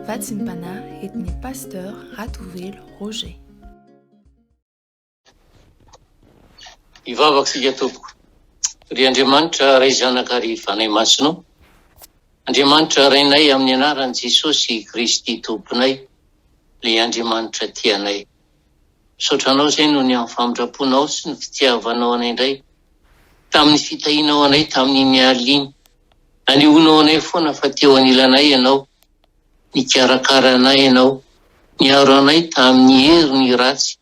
Vatsimpanahy et ny Pasteur Ratovelo Roger. Hivavaka isika tompoko. Ry Andriamanitra Ray Zanaka ary Fanahy Masina ô. Andriamanitra Rainay amin'ny anaran'i Jesosy Kristy Tomponay ilay Andriamanitra tia anay. Misaotra Anao izay noho ny amin'ny famindramponao sy ny fitiavanao anay indray tamin'ny fitahianao anay tamin'iny alina iny. Anehoanao anay foana fa teo anilanay Ianao, nikarakara anay Ianao, niaro anay tamin'ny herin'ny ratsy,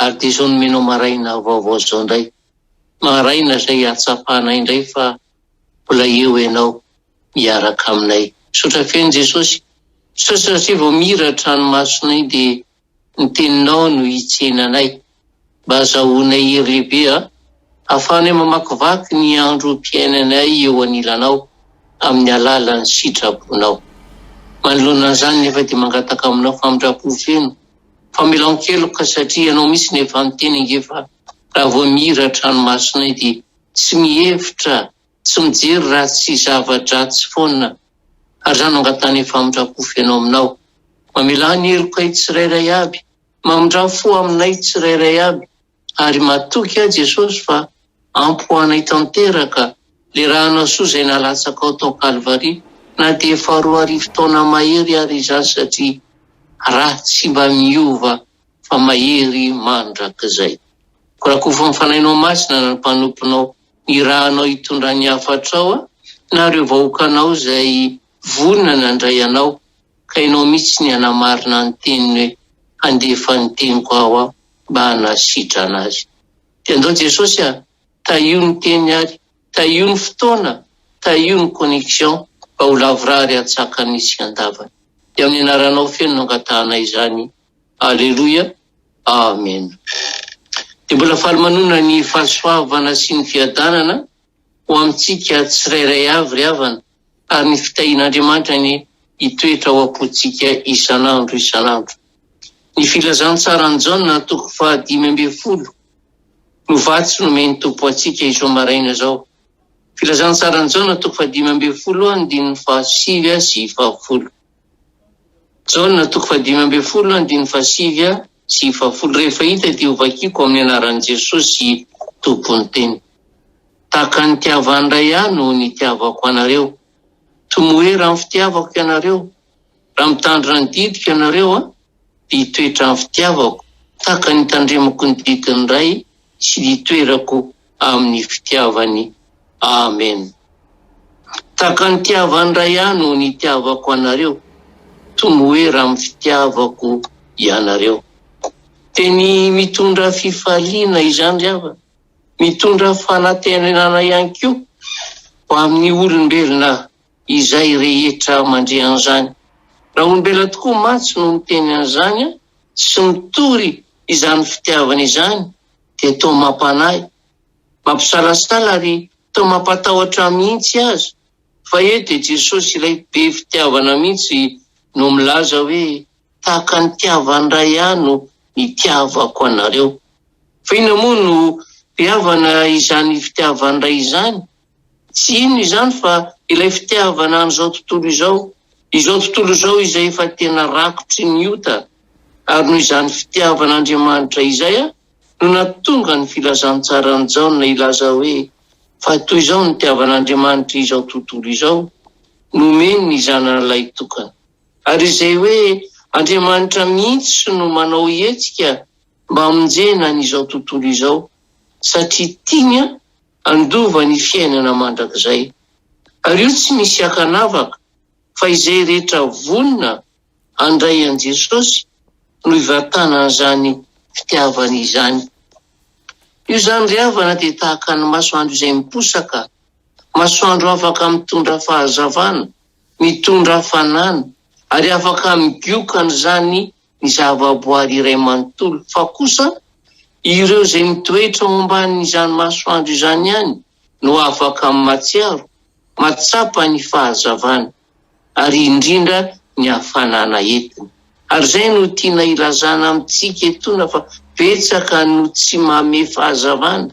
ary dia izao nomenao maraina vaovao izao indray, maraina izay ahatsapanay indray fa mbola eo Ianao miaraka aminay. Misaotra feno Jesosy, misaotra satria vao mihira ny tranomasonay dia Ny teninao no hitsena anay. Mba azahoanay hery lehibe a! Ahafahanay mamakivaky ny androm-piainanay eo anilanao amin'ny alalan'ny sitrapon-Ao. Manoloana an'izany nefa dia mangataka aminao famindram-po feno, famelan-keloka satria Ianao mihitsy no efa niteny ange fa raha vao mihira an-tranomasinay dia tsy mihevitra Tsy mijery ratsy sy zava-dratsy foana ary zany no angatahany famindram-po feno aminao. Mamelà ny helokay tsirairay aby, mamindra-fo aminay tsirairay aby ary matoky aho Jesosy fa ampy ho anay tanteraka le ra anao soa zay nalatsakao tao Kalvary na dia efa roa arivo taona mahery ary izany satria ra tsy mba miova fa mahery mandrakizay. Korakofy ny fanahinao masina na ny mpanomponao ny ra anao hitondra ny hafatrao na ireo vahoakanao izay vonona nandray anao ka ianao mihitsy ny hanamarina ny teniny hoe handefa ny teniko aho aho mba hanasitrana azy dia andao Jesosy a tahio ny teny ary tahio ny fotoana tahio ny connexion mba ho lavorary hatsakany sy handavany dia amin'ny anaranao feno no angatahanay izany Aleloia Amen Dia mbola faly manonona ny fahasoavana sy ny fiadanana ho amintsika tsirairay avy ry havana ary ny fitahian'Andriamanitra anie hitoetra ao am-pontsika isan'andro isan'andro Ny filazantsaran'i Jaona toko faha dimy ambin'ny folo no vatsy nomen'ny Tompo antsika izao maraina izao Filazantsaran'i Jaona toko faha dimy ambin'ny folo andininy faha sivy sy faha folo Jaona toko fahadimy ambin'ny folo andininy fahasivy sy fahafolo Rehefa hita dia hovakiko amin'ny anaran'i Jesosy Tompon'ny teny. Tahaka ny nitiavan'ny Ray ahy no nitiavako anareo. Tomoera amin'ny fitiavako ianareo. Raha mitandrina ny didiko ianareo an, dia hitoetra amin'ny fitiavako, tahaka ny hitandremako ny didin'ny Ray sy ny hitoerako amin'ny fitiavany. Amen. Tahaka ny tiavan'ny Ray ahy no nitiavako anareo, tomoera amin'ny fitiavako ianareo. Teny mitondra fifaliana izany ry havana, mitondra fanantenana ihany koa ho amin'ny olombelona izay rehetra mandre an'izany. Raha olombelona tokoa mantsy no miteny an'izany sy mitory izany fitiavana izany dia toa mampanahy, mampisalasala ary toa mampatahotra mihitsy aza, fa eo dia Jesosy ilay be fitiavana mihitsy no milaza hoe tahaka ny tiavan-dray ahy no nitiavako anareo. Fa inona moa no be havana izany fitiavan-dray izany? Tsy inona izany fa ilay fitiavana an'izao tontolo izao, izao tontolo izao izay efa tena rakotry ny ota, ary noho izany fitiavana Andriamanitra izay no nahatonga ny filazantsaran'i Jaona hilaza hoe, Fa toy izao no nitiavan'Andriamanitra izao tontolo izao, nomeny ny Zanany Lahitokany. Ary izay hoe Andriamanitra mihitsy no manao hetsika mba hamonjena an'izao tontolo izao, satria tiany an! handova ny fiainana mandrakizay. Ary io tsy misy ankanavaka fa izay rehetra vonona handray an'i Jesosy no hivantanan'izany fitiavana izany. Io zany ry havana dia tahaka ny masoandro izay miposaka, masoandro afaka mitondra fahazavana, mitondra hafanana ary afaka migioka an'izany ny zavaboary iray manontolo, fa kosa ireo izay mitoetra ao ambanin'izany masoandro izany ihany no afaka mahatsiaro, mahatsapa ny fahazavana, ary indrindra ny hafanana entiny. Ary izay no tiana hilazana amintsika etoana fa betsaka no tsy mamehy fahazavana,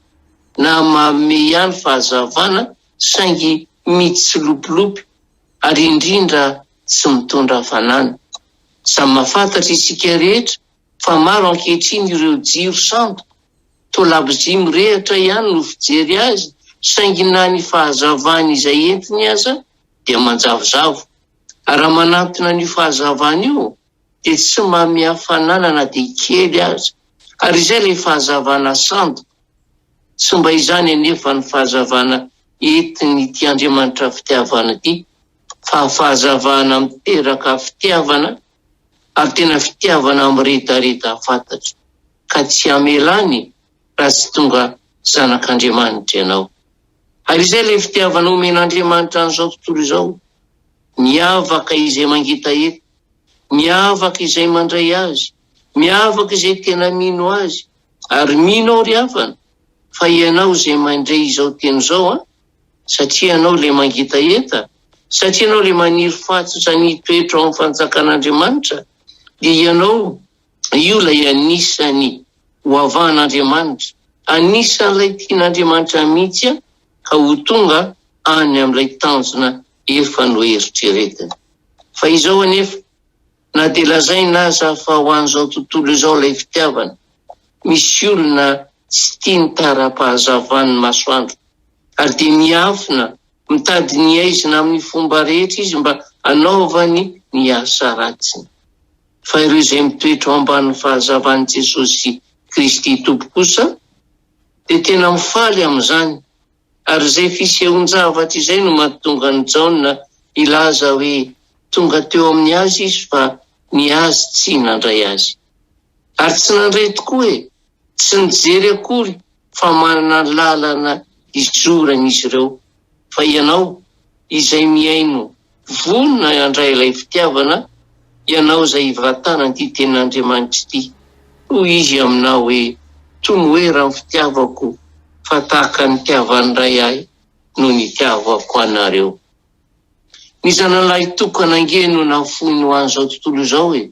na mamehy ihany fahazavana saingy mitsilopilopy, ary indrindra tsy mitondra hafanana. Samy mahafantatra isika rehetra fa maro ankehitriny ireo jiro sandoka, toa labozia mirehatra ihany no fijery azy saingy na ny fahazavany izay entiny aza dia manjavozavo. Ary raha manantona an'io fahazavana io, dia tsy mamia fanana na dia kely aza, ary izay ilay fahazavana sandoka. Tsy mba izany anefa ny fahazavana entin'ity Andriamanitra fitiavana ity, fa fahazavana miteraka fitiavana, ary tena fitiavana miredareda fatatro, ka tsy hamelany raha tsy tonga zanak'Andriamanitra ianao. Ary izay ilay fitiavana omen'Andriamanitra an'izao tontolo izao, miavaka izay mangetaheta, Miavaka izay mandray azy, miavaka izay tena mino azy, ary mino aho ry havana fa ianao izay mandre izao teny izao an! satria ianao ilay mangetaheta, satria ianao ilay maniry fahatsotra ny hitoetra ao amin'ny fanjakan'Andriamanitra, dia ianao io ilay anisan'ny ho avahan'Andriamanitra, anisan'ilay tian'Andriamanitra mihitsy ka ho tonga any amin'ilay tanjona efa noeritreretiny. Fa izao anefa, na dia lazaina aza fa ho an'izao tontolo izao ilay fitiavana, misy olona tsy tia ny tara-pahazavan'ny masoandro, ary dia miafina, mitady ny aizina amin'ny fomba rehetra izy mba hanaovany ny asa ratsiny. Fa ireo izay mitoetra ao ambanin'ny fahazavan'i Jesosy Kristy Tompo kosa dia tena mifaly amin'izany. Ary izay fisehoan-javatra izay no mahatonga an'i Jaona hilaza hoe tonga teo amin'ny azy izy fa ny azy tsy nandray azy. Ary tsy nandray tokoa e! Tsy nijery akory fa manana ny lalana izorany izy ireo. Fa ianao, izay mihaino, Vonona handray ilay fitiavana ianao izay hivantanan'ity tenin'Andriamanitra ity. Hoy Izy aminao hoe, Tomoera ny fitiavako, fa tahaka ny nitiavan'ny Ray Ahy no nitiavako anareo. Ny Zanalahy Tokana ange no nafoiny ho an'izao tontolo izao e!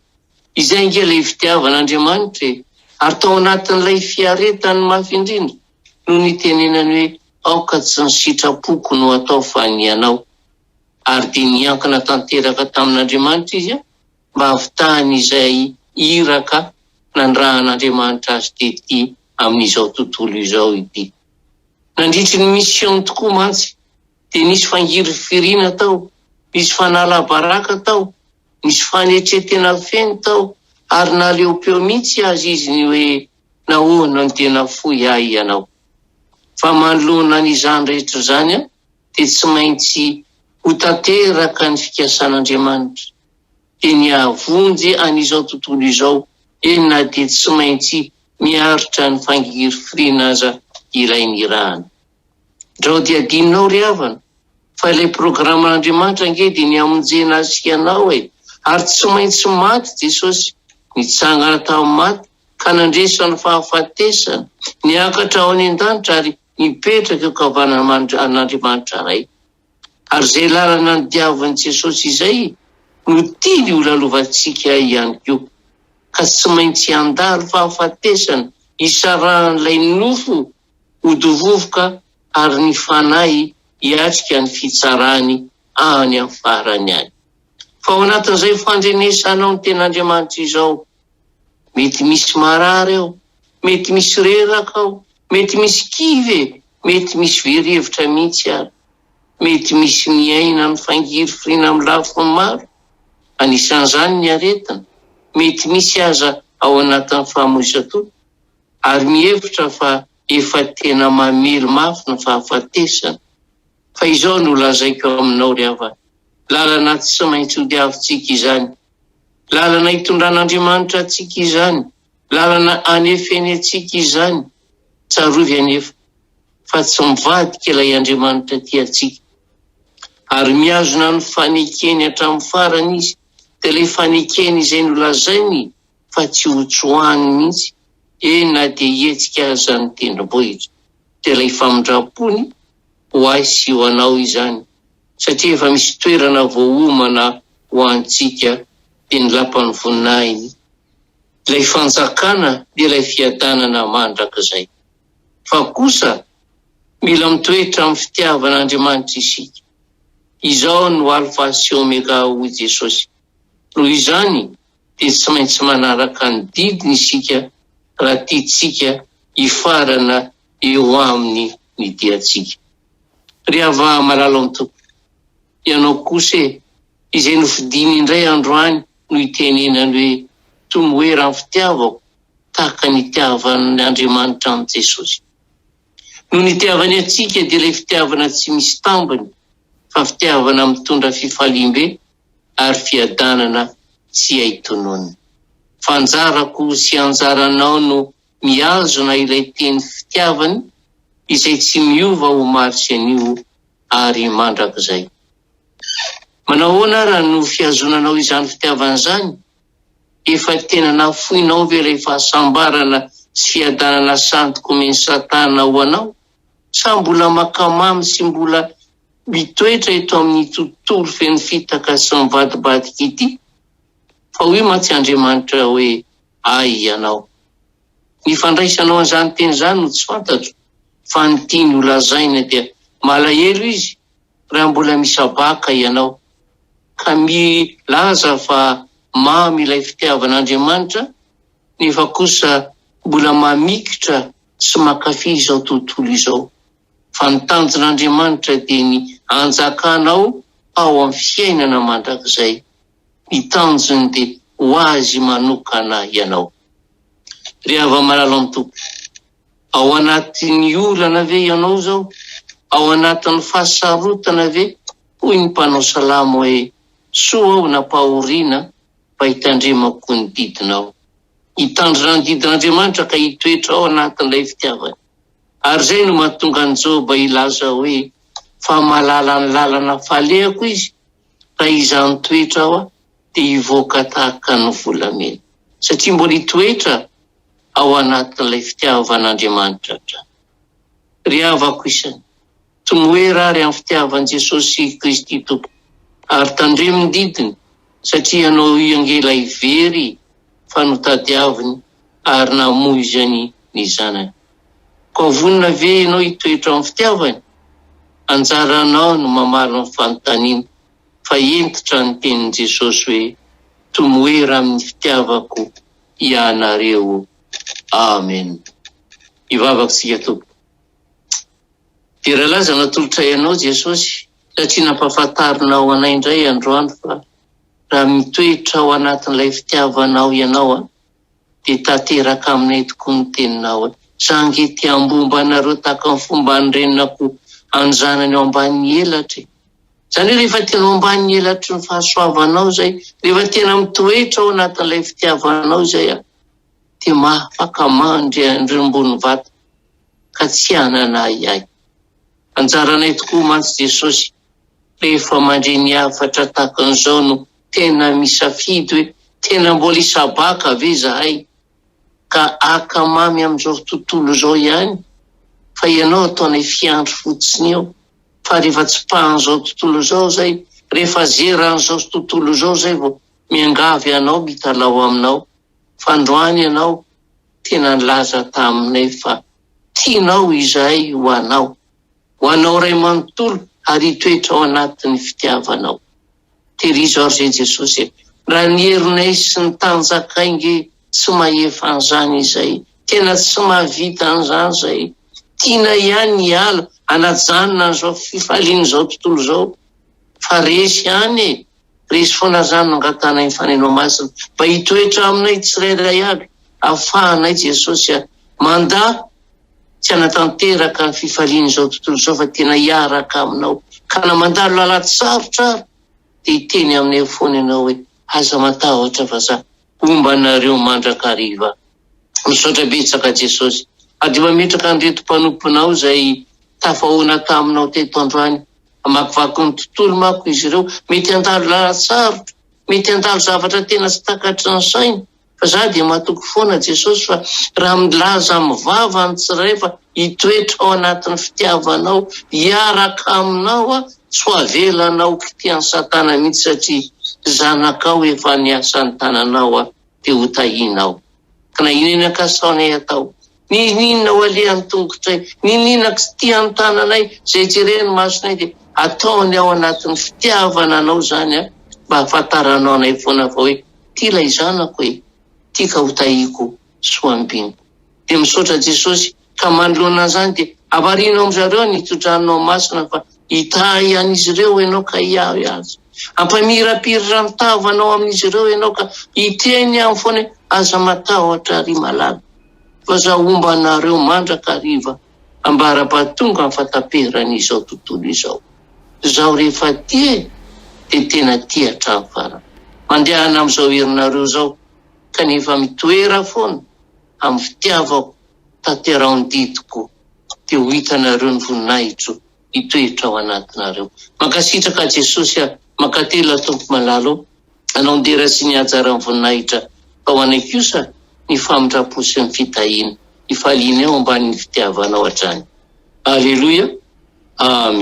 Izay ange ilay fitiavan'Andriamanitra e! Ary tao anatin'ilay fiaretany mafy indrindra no nitenenany hoe, Aoka tsy ny sitrapoko no atao fa ny anao. ary dia niankina tanteraka tamin'Andriamanitra izy mba hahavitany izay iraka nandrahan'Andriamanitra azy tety amin'izao tontolo izao ity. Nandritry ny misiôny tokoa mantsy dia nisy fangirifiriana tao, nisy fanalabaraka tao, nisy fanetren-tena feno tao, ary naleopeo mihitsy aza izy ny hoe, Nahoana no dia nafoy ahy Ianao? Fa manoloana an'izany rehetra izany aho dia tsy maintsy ho tanteraka ny fikasan'Andriamanitra. Dia ny hahavonjy an'izao tontolo izao eny na dia tsy maintsy miaritra ny fangirifiriana aza ilay nirahana. Ndrao dia adinonao ry havana fa ilay programan'Andriamanitra ange dia ny hamonjena ahy sy ianao e! Ary tsy maintsy maty Jesosy, nitsangana tamin'ny maty ka nandresy ny fahafatesana, niakatra ho any an-danitra ary Mipetraka eo an-kavanana an'Andriamanitra Ray. Ary izay lalana nodiavin'i Jesosy izay no tiany holalovantsika ihany koa. Ka tsy maintsy handalo fahafatesana hisarahan'ilay nofo ho dovovoka ary ny fanahy hiatrika ny fitsarany any amin'ny farany any. Fa ao anatin'izay fandrenesanao ny Tenin'Andriamanitra izao, Mety misy marary ao, mety misy reraka ao, mety misy kivy e, mety misy very hevitra mihitsy ary. Mety misy miaina amin'ny fangirifiriana amin'ny lafiny maro, anisan'izany ny aretina, mety misy aza ao anatin'ny famoizan-toa, ary mihevitra fa efa tena mamely mafy ny fahafatesana. Fa izao no lazaiko aminao ry havana, lalana tsy maintsy hodiavintsika izany Lalana itondran'Andriamanitra antsika izany, lalana anefeny antsika izany. Tsarovy anefa fa tsy mivadika ilay Andriamanitra tia antsika. Ary mihazona ny fanekeny hatramin'ny farany izy, dia ilay fanekeny izay nolazainy fa tsy hotsoahany mihitsy, eny na dia hihetsika aza ny tendrombohitra. Dia ilay famindram-pony ho ahy sy ho anao izany. satria efa misy toerana voaomana ho antsika dia ny lapan'ny voninahiny, ilay fanjakana dia ilay fiadanana mandrakizay. Fa kosa mila mitoetra amin'ny fitiavan'Andriamanitra isika. Izaho no Alfa sy Omega hoy Jesosy. Noho izany dia tsy maintsy manaraka ny didiny isika raha tiantsika hifarana eo aminy ny diantsika. Ry Hava malala ao an-toko, ianao kosa e, izay nofidiny indray androany no itenenany hoe, toy ny hoe raha ny fitiavako tahaka ny itiavan' Andriamanitra an'i Jesosy. Noho ny itiavany antsika dia ilay fitiavana tsy misy tambiny fa fitiavana mitondra fifaliam-be ary fiadanana tsy hay tononina. Fa anjarako sy anjaranao no mihazona ilay teny fitiavany izay tsy miova omaly sy anio ary mandrakizay. Manahoana ary no fihazonanao izany fitiavana izany? Efa tena nafoinao ve ilay fahasambarana sy fiadanana sandoka omen'i Satana ho anao? Sa mbola mankamamy sy mbola mitoetra eto amin'ity tontolo feno fitaka sy mivadibadika ity? Fa hoy mantsy Andriamanitra hoe, Hay ianao. Ny fandraisanao an'izany teny izany no tsy fantatro, fa ny tiany ho lazaina dia malahelo izy raha mbola misabaka ianao, ka milaza fa mamy ilay fitiavan'Andriamanitra, nefa kosa mbola mamikitra sy mankafy izao tontolo izao. Fa ny tanjon'Andriamanitra dia ny hanjakanao ao amin'ny fiainana mandrakizay. Ny tanjony dia ho azy manokana ianao. Ry hava-malala ny Tompo, ao anatin'ny olana ve ianao izao? Ao anatin'ny fahasarotana ve? Hoy ny mpanao salamo hoe, Soa aho nampahoriana fa hitandremako ny didinao. Hitandrina ny didin'Andriamanitra ka hitoetra ao anatin'ilay fitiavany. Ary izay no mahatonga an'i Joba hilaza hoe, Fa malala ny lalana falehako izy Raha izany toetra aho dia hivoaka tahaka ny volamena, satria mbola hitoetra ao anatin'ilay fitiavan'Andriamanitra hatrany. Ry havako isany, tomoera àry amin'ny fitiavan'i Jesosy Kristy Tompoko, ary tandremo ny didiny, satria ianao hiangela hivery fa notadiaviny ary namoizany ny zanany. Koa vonona ve ianao hitoetra amin'ny fitiavany? Anjaranao ny mamaly ny fanontaniana, fa hentitra ny tenin'i Jesosy hoe, Tomoera amin'ny fitiavako ianareo. Amen. Hivavaka isika, Tompo. Dia raha laza natolotray Anao Jesosy, satria nampahafantarinao anay indray androany fa. Raha mitoetra ao anatin'ilay fitiavanao ianao an, dia tanteraka aminay tokoa ny teninao an. Za ange te hambomba anareo tahaka ny fomban'ny renin'akoho any zanany ao ambanin'ny elatra e. Zany hoe rehefa tena ao ambanin'ny elatry ny fahasoavanao zay, rehefa tena mitoetra ao anatin'ilay fitiavanao izay an, dia mahafaka mandry ny rimbon'ny vato ka tsy hanana ahiahy. Anjaranay tokoa mantsy Jesosy Rehefa mandre ny hafatra tahaka an'izao no tena misafidy hoe tena mbola hisabaka ve izahay ka haka mamy amin'izao tontolo izao ihany fa ianao ataonay fiandry fotsiny eo fa rehefa tsipahan'izao tontolo izao izay, rehefa zeran'izao tontolo izao izay vao miangavy anao mitalaho aminao fa androany ianao tena nilaza taminay fa tianao izahay ho anao. Ho anao Ray manontolo ary hitoetra ao anatin'ny fitiavanao. Tehirizo ary Ry Jesosy e, raha ny herinay sy ny tanjakay nge tsy mahefa an'izany izay, tena tsy mahavita an'izany izay, tianay ihany ny hiala hanajanona an'izao fifalian'izao tontolo izao, fa resy ihany e, resy foana izany no angatahana iny Faneno Masina mba hitoetra aminay tsirairay avy, afahanay Jesosy a, mandà tsy hanatanteraka ny fifalian'izao tontolo izao fa tena hiaraka aminao ka na mandalo lalady sarotra ary dia hiteny aminay eo foana ianao hoe aza matahotra fa za homba anareo mandrakariva misaotra betsaka jesosy ary dia mametraka an'ireto mpanomponao izay tafahoana taminao teto androany hamakivaky ny tontolo mako izy ireo mety handalo lalady sarotra mety handalo zavatra tena tsy takatry ny saina Fa za dia matoky foana Jesosy fa raha milaza amin'ny vava ny tsiray fa hitoetra ao anatin'ny fitiavanao hiaraka aminao aho tsy ho avelanao kitihan'i satana mihitsy satria zanakao efa niasan'ny tananao aho dia ho tahinao ka na inona kasaonay atao Nihinihinina ao alehan'ny tongotray, nihinihinina kitihan'ny tananay, izay jeren'ny masonay dia ataony ao anatin'ny fitiavana anao izany an, mba hahafantaranao anay foana fa hoe ity ilay zanako e, ity ka ho tahiako sy ho ambiniko. Dia misaotra Jesosy ka manoloana an'izany dia havarino amin-dry zareo ny todranonao masina fa hitahy an'izy ireo ianao ka hiahy azy. Hampamirapirra ny tavanao amin'izy ireo ianao ka hiteny aminy foana hoe aza matahotra ry malala. fa za homba anareo mandrakariva ambarabatonga ny fataperan'izao tontolo izao. Zaho rehefa tia e, dia tena tia hatramin'ny farany. Mandehana amin'izao herinareo izao, kanefa mitoera foana amin'ny fitiavako, tanteraho ny didiko, dia ho hitanareo ny voninahitro. hitoetra ao anatinareo. Mankasitraka Jesosy a! Mankatelina Tompo malala o! Anao ny dera sy ny hajaran'ny voninahitra fa ho anay kosa ny famindrampo sy ny fitahiana, hifalianay ao ambanin'ny fitiavanao hatrany. Aleloia! Amen.